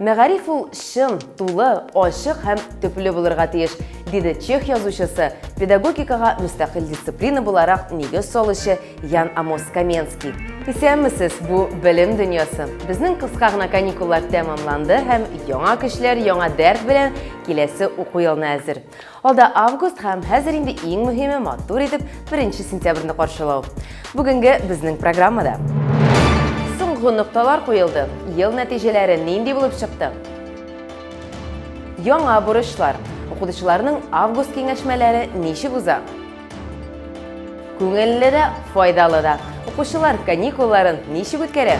Мәгариф ул чын, тулы, ачык һәм төпле булырга тиеш, диде чех язучысы, педагогикага мөстәкыйль дисциплина буларак нигез салучы Ян Амос Каменский. Исәнмесез, бу белем дөньясы. Безнең кыска гына каникуллар тәмамланды һәм яңа көчләр, яңа дәрт белән киләсе уку елына әзер. Алда август һәм хәзер инде иң мөһиме матур итеп 1 сентябрьне каршылау. Бүгенге безнең программада. Соңгы нокталар куелды. Ел нәтиҗәләре нинди булып чыкты? Яңа бурычлар. Укытучыларның август киңәшмәләре ничек уза? Күңелле дә, файдалы да. Укучылар каникулларын ничек үткәрә?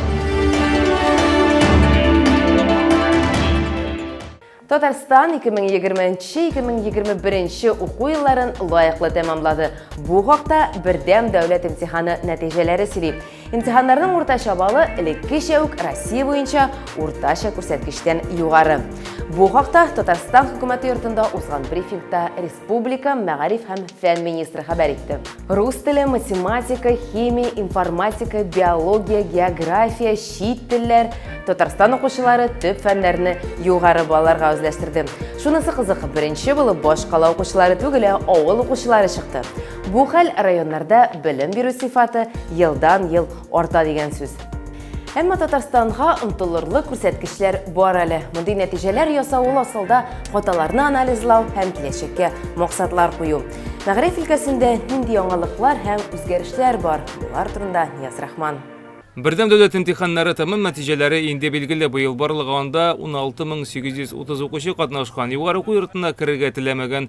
Татарстан 2020-2021 нче уку елларын лаеклы тәмамлады. Бу хакта Бердәм дәүләт имтиханы нәтиҗәләре сөйли. Имтиханнарның уртача баллы элеккечә үк Россия буенча уртача күрсәткечтән югары. Бу хакта Татарстан хөкүмәте йортында узган брифингта Республика мәгариф һәм фән министры хәбәр итте. Рус теле, математика, химия, информатика, биология, география, чит телләр, Татарстан укучылары төп фәннәрне югары балаларга үзләштерде. Шунысы кызык, беренче булып баш кала укучылары түгел, ә авыл укучылары чыкты. Бу хәл районнарда белем бирү сыйфаты елдан-ел Арта дигән сүз. Әмма Татарстанга омтылырлык күрсәткечләр бар әле. Мондый нәтиҗәләр ясау ул асылда хаталарны анализлау һәм киләчәккә максатлар кую. Мәгариф өлкәсендә нинди яңалыклар һәм үзгәрешләр бар? Болар турында Нияз Рахман. Бердәм дәүләт имтиханнары тәмам нәтиҗәләре инде билгеле. Быел барлыгы анда 16830 укучы катнашкан. Югары уку йортына керергә теләмәгән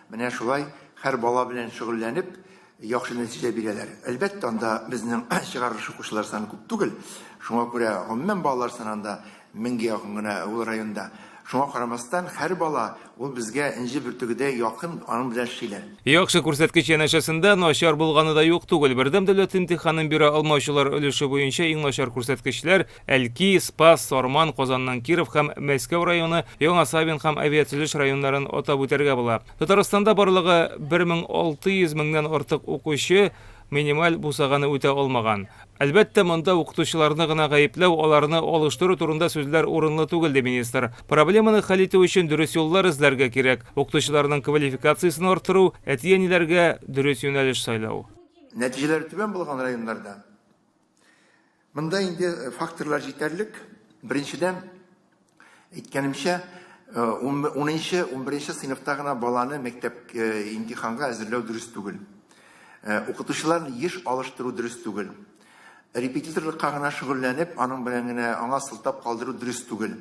Менә шулай һәр бала белән шөгыльләнеп, яхшы нәтиҗә бирәләр. Әлбәттә, анда безнең чыгарылыш укучылар саны күп түгел. Шуңа күрә гомумән балалар санында меңгә якын гына ул районда. Шуңа карамастан, һәр бала ул безгә энҗе бөртегедәй якын, аның белән эшлиләр. Яхшы күрсәткеч янәшәсендә начар булганы да юк түгел. Бердәм дәүләт имтиханын бирә алмаучылар өлеше буенча иң начар күрсәткечләр, Әлки, Спас, Сарман, Казанның Киров һәм Мәскәү районы, Яңа Савин һәм Авиатөзеш районнарын атап үтәргә була. Татарстанда барлыгы 1600 меңнән артык укучы минималь бусаганы үтә алмаган. Әлбәттә, монда укытучыларны гына гаепләү, аларны алыштыру турында сүзләр урынлы түгел, ди министр. Проблеманы хәл итү өчен дөрес юллар эзләргә кирәк, укытучыларның квалификациясен арттыру, әти-әниләргә дөрес юнәлеш сайлау. Нәтиҗәләре түбән булган районнарда Монда инде факторлар җитәрлек. Беренчедән, әйткәнемчә, 10-нчы, 11-нче сыйныфта гына баланы мәктәп имтиханга әзерләү дөрес түгел. Укытучыларны еш алыштыру дөрес түгел. Репетиторлыкка гына шөгыльләнеп, аның белән генә аңа сылтап калдыру дөрес түгел.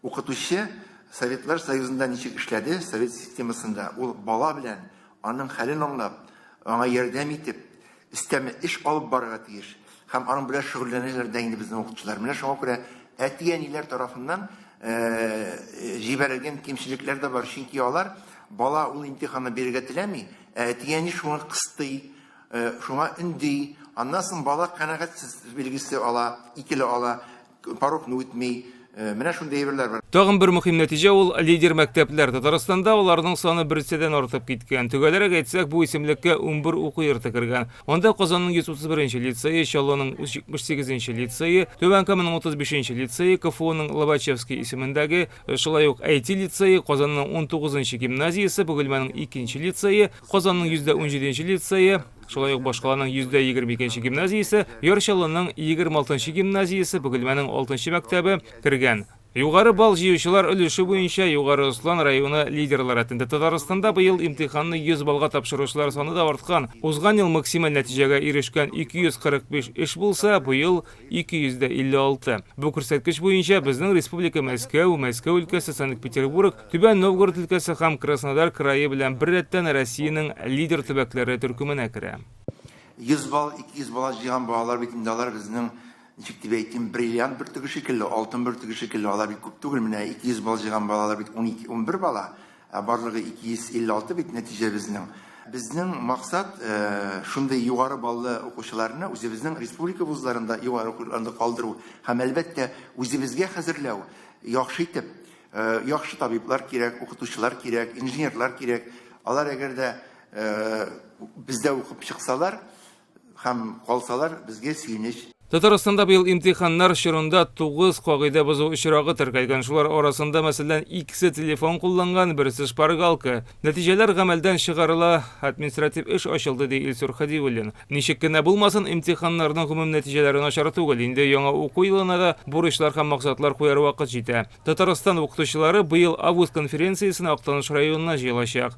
Укытучы Советлар Союзында ничек эшләде, совет системасында, ул бала белән аның хәлен аңлап, аңа ярдәм итеп, өстәмә эш алып барырга тиеш һәм аның белән шөгыльләнәләр дә инде безнең укытучылар. Менә шуңа күрә әти-әниләр тарафыннан җибәрелгән кимчелекләр дә бар, чөнки алар бала ул имтиханны бирергә теләми, ә әти-әни шуңа кыстый, шуңа өнди, аннан соң бала канәгатьсез билгесе ала, икеле ала, Порогны үтми, э, менә шундый әйберләр бар. Тагын бер мөһим нәтиҗә ул лидер мәктәпләр. Татарстанда аларның саны берседән артып киткән. Төгәлрәк әйтсәк, бу исемлеккә унбер уку йорты кергән. Анда Казанның 131 нче лицее, Чаллының 178 нче лицее, Түбән Каманың 35 нче лицее, КФУның Лобачевский исемендәге, шулай ук IT лицее, Казанның 19 нчы гимназиясе, Бөгелмәнең икенче лицее, Казанның 117 нче лицее, шулай ук башкаланың 122 нче гимназиясе, Яр Чаллының 26 нчы гимназиясе, Бөгелмәнең 6 нчы мәктәбе кергән. Югары балл җыючылар өлеше буенча Югары Ослан районы лидерлы рәтендә Татарстанда быел имтиханны 100 баллга тапшыручылар саны да арткан. Узган ел максималь нәтиҗәгә ирешкән 245 эш булса, быел 256. Бу күрсәткеч буенча безнең республика Мәскәү, Мәскәү өлкәсе, Санкт-Петербург, Түбән Новгород өлкәсе һәм Краснодар крае белән беррәттән Россиянең лидер төбәкләре төркеменә керә. 100 балл, 200 балл җыйган балалар бит инде алар безнең, ничек дип әйтим, бриллиант бөртеге шикелле, алтын бөртеге шикелле, алар бит күп түгел, менә 200 балл җыйган балалар бит унике-унбер бала, Ә барлыгы 256 бит нәтиҗәбезнең. Безнең максат шундый югары баллы укучыларны үзебезнең республика вузларында югары укуларында калдыру һәм, әлбәттә, үзебезгә хәзерләү, яхшы итеп. Яхшы табиблар кирәк, укытучылар кирәк, инженерлар кирәк. Алар әгәр дә бездә укып чыксалар, Һәм калсалар, безгә сөенеч. Татарстанда быел имтиханнар чорында тугыз кагыйдә бозу очрагы теркәлгән. Шулар арасында, мәсәлән, икесе телефон кулланган, берсе шпаргалка. Нәтиҗәләр гамәлдән чыгарыла, административ эш ачылды, ди Илсур Хәдиуллин. Ничек кенә булмасын, имтиханнарның гомум нәтиҗәләре начар түгел. Инде яңа уку елына да бурычлар һәм максатлар куяр вакыт җитә. Татарстан укытучылары быел август конференциясенә Актаныш районына җыелачак.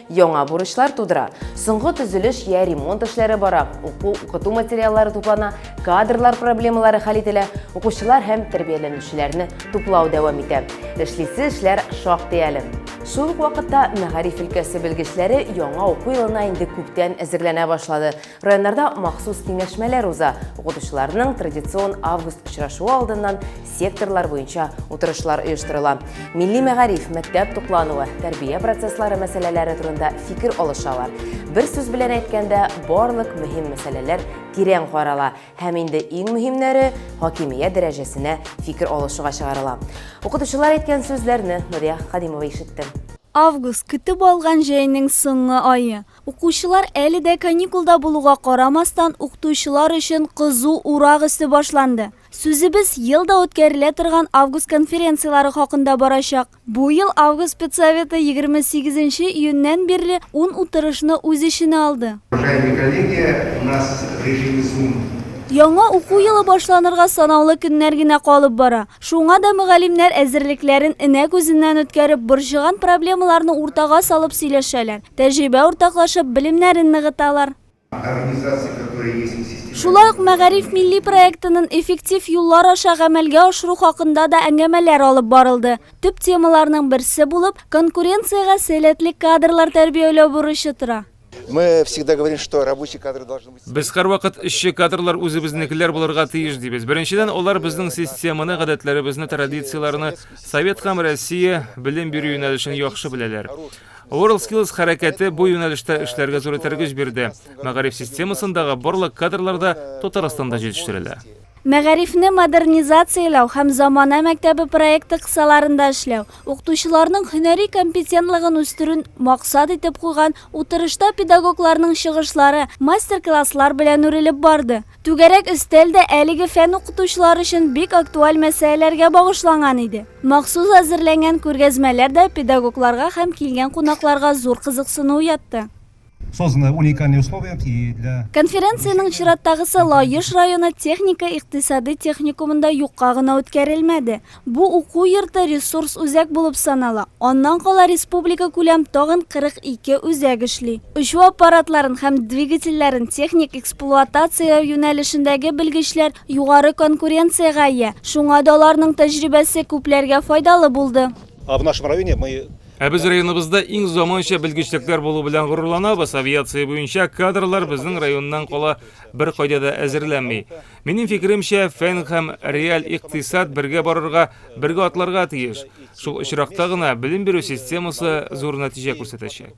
Яңа бурычлар тудыра. Соңгы төзелеш я ремонт эшләре бара, уку-укыту материаллары туплана, кадрлар проблемалары хәл ителә, укучылар һәм тәрбияләнүчеләрне туплау дәвам итә. Эшлисе эшләр шактый әле. Шул ук вакытта мәгариф өлкәсе белгечләре яңа уку елына инде күптән әзерләнә башлады. Районнарда махсус киңәшмәләр уза, укытучыларның традицион август очрашуы алдыннан секторлар буенча утырышлар оештырыла. Милли мәгариф, мәктәп туклануы, тәрбия процесслары мәсьәләләре турында фикер алышалар. Бер сүз белән әйткәндә, барлык мөһим мәсьәләләр тирән карала һәм инде иң мөһимнәре хакимият дәрәҗәсенә фикер алышуга чыгарыла. Укытучылар әйткән сүзләрне Нурия Хадимова ишетте. Август, көтеп алган җәйнең соңгы ае. Укучылар әле дә каникулда булуга карамастан, укытучылар өчен кызу урак өсте башланды. Сүзебез ел да үткәрелә торган август конференцияләре хакында барачак. Бу ел август педсоветы егерме сигезенче июньнән бирле ун утырышны үз эченә алды. Уважаемые коллеги, у нас в режиме Zoom. Яңа уку елы башланырга санаулы көннәр генә калып бара. Шуңа да мөгалимнәр әзерлекләрен энә күзеннән үткәреп, борчыган проблемаларны уртага салып сөйләшәләр, тәҗрибә уртаклашып, белемнәрен ныгыталар. Шулай ук Мәгариф милли проектынын эффектив юллар аша гамәлгә ашыру хакында да әңгәмәләр алып барылды. Төп темаларның берсе булып, конкуренциягә сәләтле кадрлар тәрбияләү бурычы тора. Без һәрвакыт эшче кадрлар үзебезнекеләр булырга тиеш дибез. Беренчедән, алар безнең системаны, гадәтләребезне, традицияләрне, Совет һәм Россия белем бирү юнәлешен яхшы беләләр. WorldSkills хәрәкәте бу юнәлештә эшләргә зур этәргеч бирде. Мәгариф системасындагы барлык кадрлар да Татарстанда җитештерелә. Мәгарифне модернизацияләү һәм замана мәктәбе проекты кысаларында эшләү, укытучыларның һөнәри компетентлыгын үстерүн максат итеп куйган утырышта педагогларның чыгышлары мастер-класслар белән үрелеп барды. Түгәрәк өстәл дә әлеге фән укытучылары өчен бик актуаль мәсьәләләргә багышланган иде. Махсус әзерләнгән күргәзмәләр дә педагогларга һәм килгән кунакларга зур кызыксыну уятты. Созданы уникальные условия и для. Конференциянең чираттагысы Лаеш районы техника-икътисади техникумында юкка гына үткәрелмәде. Бу уку йорты ресурс үзәк булып санала. Аннан кала республикакүләм тагын 42 үзәк эшли. Очу аппаратларын һәм двигательләрен техник эксплуатацияләү юнәлешендәге белгечләр югары конкуренциягә ия, шуңа да аларның тәҗрибәсе күпләргә файдалы булды. А в нашем районе мы. Ә без районыбызда иң заманча белгечлекләр булу белән горурланабыз. Авиация буенча кадрлар безнең районнан кала беркайда да әзерләнми. Минем фикеремчә, фән һәм реаль икътисад бергә барырга, бергә атларга тиеш. Шул очракта гына белем бирү системасы зур нәтиҗә күрсәтәчәк.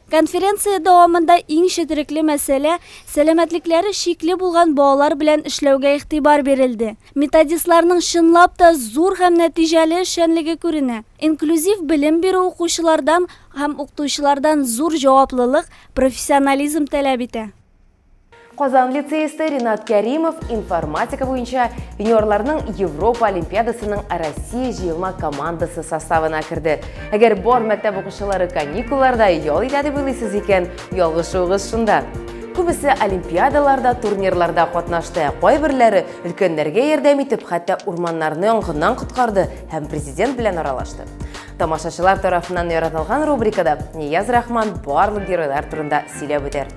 Конференция дәвамында иң четерекле мәсьәлә, сәламәтлекләре чикле булган балалар белән эшләүгә игътибар бирелде. Методистларның чынлап та зур һәм нәтиҗәле эшчәнлеге күренә. Инклюзив белем бирү укучылардан һәм укытучылардан зур җаваплылык, профессионализм таләп итә. Казан лицеисты Ринат Кәримов информатика буенча юниорларның Европа олимпиадасының Россия җыелма командасы составына керде. Әгәр бар мәктәп укучылары каникулларда ял итә дип уйлыйсыз икән, ялгышуыгыз шунда. Күбесе олимпиадаларда, турнирларда катнашты, ә кайберләре өлкәннәргә ярдәм итеп, хәтта урманнарны янгыннан коткарды һәм президент белән аралашты. Тамашачылар тарафыннан яратылган рубрикада Нияз Рахман барлык геройлар турында сөйләп үтәр.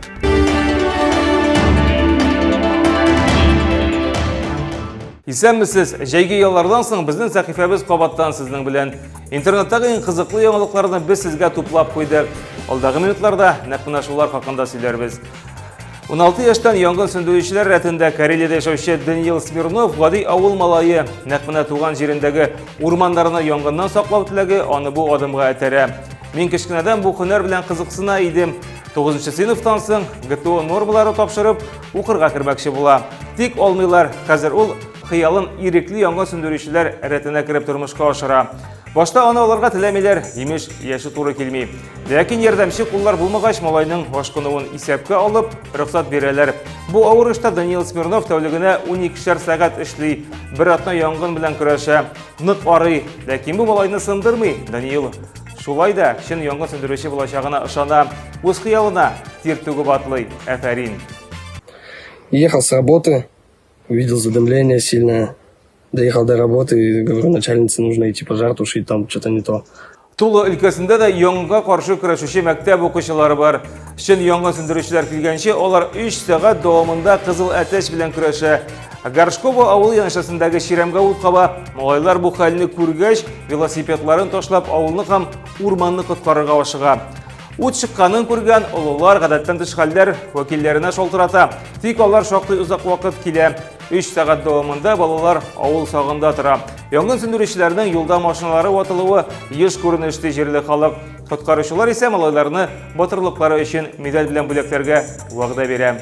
Исәнмесез! Җәйге яллардан соң безнең сәхифәбез кабаттан сезнең белән. Интернеттагы иң кызыклы яңалыкларны без сезгә туплап куйдык. Алдагы минутларда нәкъ менә шулар хакында сөйләрбез. 16 яшьтән янгын сүндерүчеләр рәтендә Карелиядә яшәүче Даниил Смирнов гади авыл малае, нәкъ менә туган җирендәге урманнарны янгыннан саклау теләге аны бу адымга этәрә. Мин кечкенәдән бу һөнәр белән кызыксына идем. 9 сыйныфтан соң ГТО нормалары тапшырып, укырга кермәкче була. Тик алмыйлар. Хәзер ул хыялын ирекле янгын сүндерүчеләр рәтенә кереп тормышка ашыра. Башта аны алырга теләмиләр, имеш, яше туры килми. Ләкин ярдәмче куллар булмагач, малайның ашкынуын исәпкә алып, рөхсәт бирәләр. Бу авыр эштә Даниил Смирнов тәүлегенә 12-шәр сәгать эшли, бер атна янгын белән көрәшә, нык арый. Ләкин бу малайны сындырмый. Даниил шулай да чын янгын сүндерүче булачагына ышана, үз хыялына тир түгеп атлый. Әфәрин! Ехал с работы, Увидел задымление сильное. Доехал до работы и говорю, начальнице нужно идти пожар тушить, там что-то не то. Тулы өлкәсендә дә яңга каршы көрәшүче мәктәп укучылары бар. Чын яңа сүндерүчеләр килгәнче, алар 3 сәгать дәвамында кызыл әтәч белән көрәшә. Горшково авыл яншасындагы чирәмгә ут каба. Малайлар бу хәлне күргәч, велосипедларын ташлап, авылны һәм урманны коткарырга ашыга. Ут чыкканын күргән олылар гадәттән тыш хәлләр вәкилләренә шалтырата. Тик алар шактый озак вакыт килә. 3 сәгать дәвамында балалар авыл сагында тора. Янгын сүндерүчеләрнең юлда машиналары ватылуы еш күренеш ди җирле халык. Коткаручылар исә малайларны батырлыклары өчен медаль белән бүләкләргә вәгъдә бирә.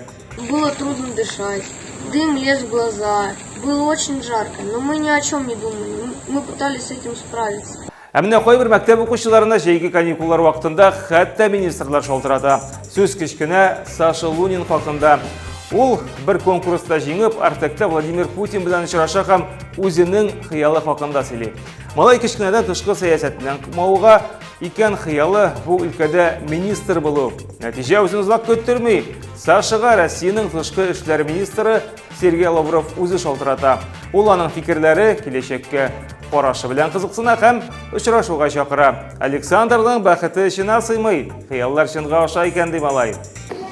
Было трудно дышать, дым лез в глаза, было очень жарко, но мы ни о чем не думали, мы пытались с этим справиться. Ә менә кайбер мәктәп укучыларына җәйге каникуллар вакытында хәтта министрлар шалтырата. Сүз кечкенә Саша Лунин хакында. Ул бер конкурста җиңеп, Артекта Владимир Путин белән очраша һәм үзенең хыялы хакында сөйли. Малай кечкенәдән тышкы сәясәтеннән кумауга икән хыялы бу өлкәдә министр булу. Нәтиҗә үзен озак көттерми. Сашага Россиянең тышкы эшләр министры Сергей Лавров үзе шалтырата. Ул аның фикерләре киләчәккә карашы белән кызыксына һәм очрашуга чакыра. Александрның бәхете эченә сыймый. Хыяллар чынга аша икән ди малай.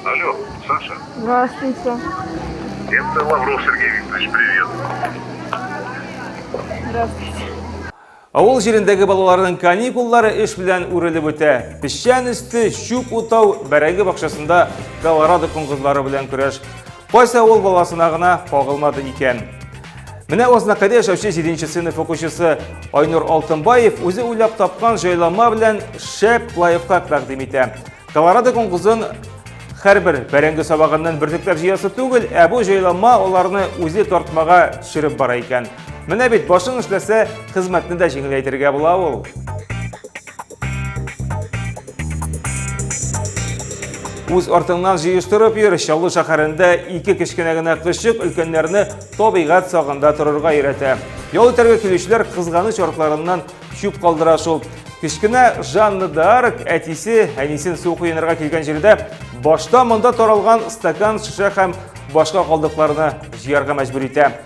Алло, Саша. Здравствуйте. Это Лавров Сергей Викторович, привет. Здравствуйте. Авыл җирендәге балаларның каникуллары эш белән үрелеп үтә. Песчан өсте, чүп утау, бәрәңге бакчасында колорадо коңгызлары белән көрәш. Кайсы авыл баласына гына кагылмады икән. Менә Ознакайда яшәүче 7 сыйныф укучысы Айнур Алтынбаев үзе уйлап тапкан җайланма белән шәп лайфхак тәкъдим итә. Колорадо коңгызын һәрбер бәрәңге сабагыннан бөртекләп җыясы түгел, ә бу җайланма аларны үзе тартмага төшереп бара икән. Менә бит башың эшләсә, хезмәтне дә җиңеләйтергә була ул. Үз артыңнан җыештырып йөр, Чаллы шәһәрендә ике кечкенә генә кызчык өлкәннәрне табигать сагында торырга өйрәтә. Ял итәргә килүчеләр кызганыч артларыннан чүп калдыра шул. Кечкенә Жанна Дарк әтисе, әнисен су коенырга килгән җирдә башта монда таралган стакан, шешә һәм башка калдыкларны җыярга мәҗбүр итә.